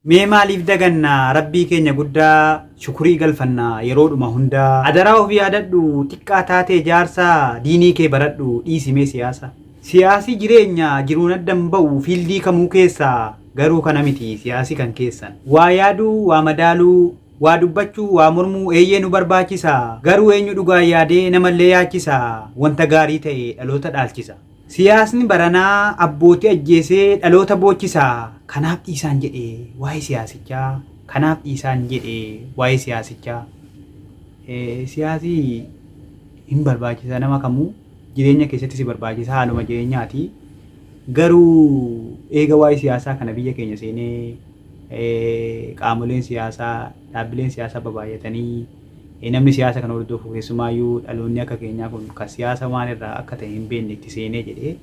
Mee maaliif daganna Rabbii keenya guddaa shukurii galfanna yeroodhuma hunda. Adaraa of yaadadhu xiqqaa taatee jaarsa diinii kee baradhu dhiisi mee siyaasa. Siyaasi jireenya jiruun adda hin ba'u fiildii kamuu keessa garuu kana miti siyaasi kan keessan. Waa yaaduu waa madaaluu waa dubbachuu waa mormuu eeyyee nu barbaachisa garuu eenyu dhugaan yaadee namallee yaachisa wanta gaarii ta'e dhaloota dhaalchisa. Siyaasni baranaa abbootii ajjeesee dhaloota boochisa, kanaaf dhiisaan jedhe waa'ee siyaasichaa, kanaaf dhiisaan jedhe waa'ee siyaasichaa. Siyaasi hin barbaachisa nama kamuu jireenya keessatti si barbaachisa haaluma jireenyaati. Garuu eega waa'ee siyaasaa kana biyya keenya seenee qaamoleen siyaasaa dhaabbileen siyaasaa babaay'atanii Namni siyaasa kana hordofu keessumaayyuu dhaloonni akka keenyaa kun kan siyaasa maal irraa akka ta'e hin beekne itti seenee jedhee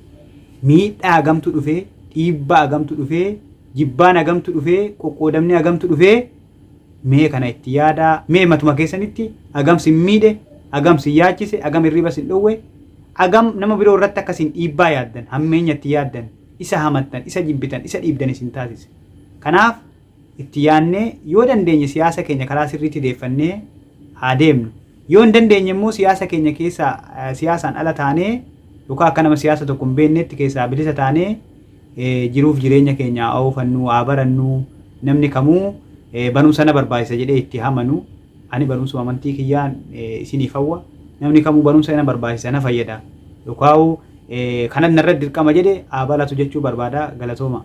miidhaa hagamtu dhufee, dhiibbaa hagamtu dhufee, jibbaan hagamtu dhufee, qoqqoodamni hagamtu dhufee mee kana itti yaadaa, mee matuma keessanitti hagam sin miidhe, hagam sin yaachise, hagam hirriba sin dhowwe, hagam nama biroo irratti akka sin dhiibbaa yaaddan, hammeenya itti yaaddan, isa hamattan, isa jibbitan, isa dhiibdan isin taasise. Kanaaf itti yaadnee yoo dandeenye siyaasa keenya karaa sirriitti deeffannee haa deemnu. Yoo hin dandeenye immoo siyaasa keenya keessaa eh, siyaasaan ala taanee yookaan akka nama siyaasa tokko hin beeknetti keessaa bilisa taanee eh, jiruuf jireenya keenya haa oofannuu, haa barannuu, namni kamuu eh, barumsa na barbaachisa jedhee itti hamanu. Ani barumsuma amantii kiyyaan eh, isiniif hawwa. Namni kamuu barumsa na barbaachisa na fayyada. Yookaan eh, kanan narratti dirqama jedhe haa baratu jechuu barbaada galatooma.